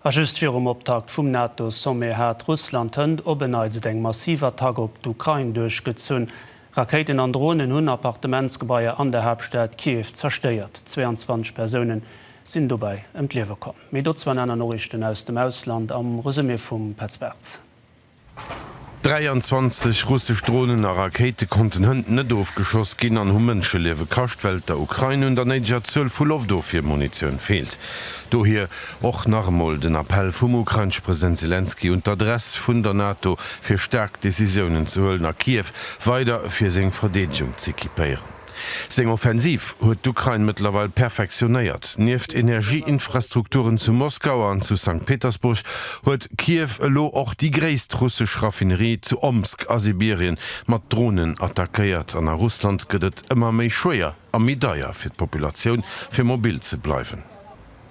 A just virum Optakt vum NATO-Sommet hat Russland hënt op e Neits eng massiv Attack op d'Ukrain duerchgezunn. Rakéiten an Dronen hunn Appartementsgebaier an der Haaptstad Kiew zerstéiert. 22 Persoune sinn dobäi ëm d'Liewe komm. Méi dozou an aner Noriichten aus dem Ausland am Resumé vum Petz Bartz. 23 russesch Dronen a Rakéite konnten hënt net ofgeschoss ginn an hu Mënscheliewe kascht, well der Ukrain un der néideger Zuel vu Loftofwiermunitioun feelt. Dohier och nach emol den Appell vum ukrainesche President Selenskyj un d'Adress vun der NATO, fir staark Decisiounen ze huelen a Kiew weider fir seng Verdeedegung z'equipéieren. Seng Offensiv huet d'Ukrain mëttlerweil perfektionéiert. Nieft Energieinfrastrukturen zu Moskau an zu Sankt Petersburg huet Kiew elo och déi gréisst russesch Raffinerie zu Omsk a Sibirien mat Dronen attackéiert. An a Russland gëtt et ëmmer méi schwéier a méi deier fir d'Populatioun, fir mobil ze bleiwen.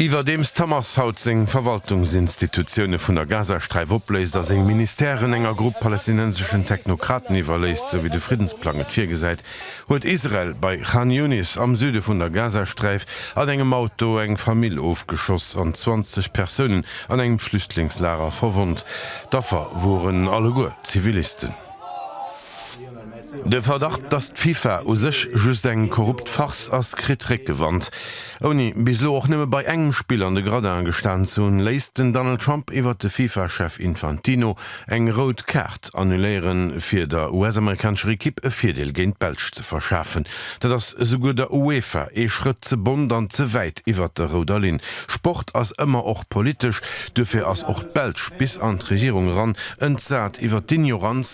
Iwwerdeems d'Hamas haut seng Verwaltungsinstitutioune vun der Gazasträif opléist a seng Ministèren enger Grupp palästinenseschen Technokraten iwwerléisst, sou wéi de Friddensplang et virgesäit, huet Israel bei Khan Younis am Süde vun der Gazasträif an engem Auto eng Famill ofgeschoss an 20 Persounen an engem Flüchtlingslager verwonnt. D'Affer woren alleguer Zivilisten. De Verdacht, datt d'FIFA u sech just eng korrupt Farce ass, kritt Réckgewand. Ouni bis elo och nëmme bei engem Spill an de Gradin gestan ze hunn, léisst den Donald Trump iwwert de FIFA-Chef Infantino eng rout Kaart annuléieren, fir der US-amerikanescher Ekipp e Virdeel géint d'Belsch ze verschafen. Dat ass souguer der UEFA ee Schrëtt ze bont an ze wäit iwwert der rouder Linn. Sport ass ëmmer och politesch, duerfir ass och d'Belsch bis an d'Regierung eran entsat iwwert d'Ignoranz,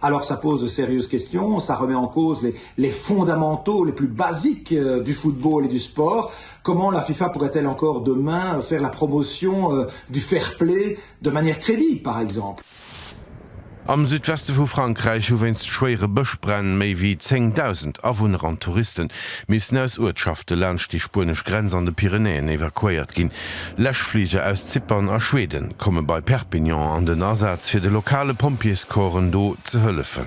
Alors ça pose de sérieuses questions, ça remet en cause les les fondamentaux les plus basiques du football et du sport. Comment la FIFA pourrait-elle encore demain faire la promotion du fair play de manière crédible par exemple? Am Südweste vu Frankräich hu wéinst schwéiere Bëschbränn méi wéi 10.000 Awunner an Touriste missen aus Uertschafte laanscht déi spuenesch Grenz an de Pyrenäen evakuéiert ginn. Läschfliger aus Zypern a Schweden komme bei Perpignan an den Asaz fir de lokale Pompjeescorpsen do ze hëllefen.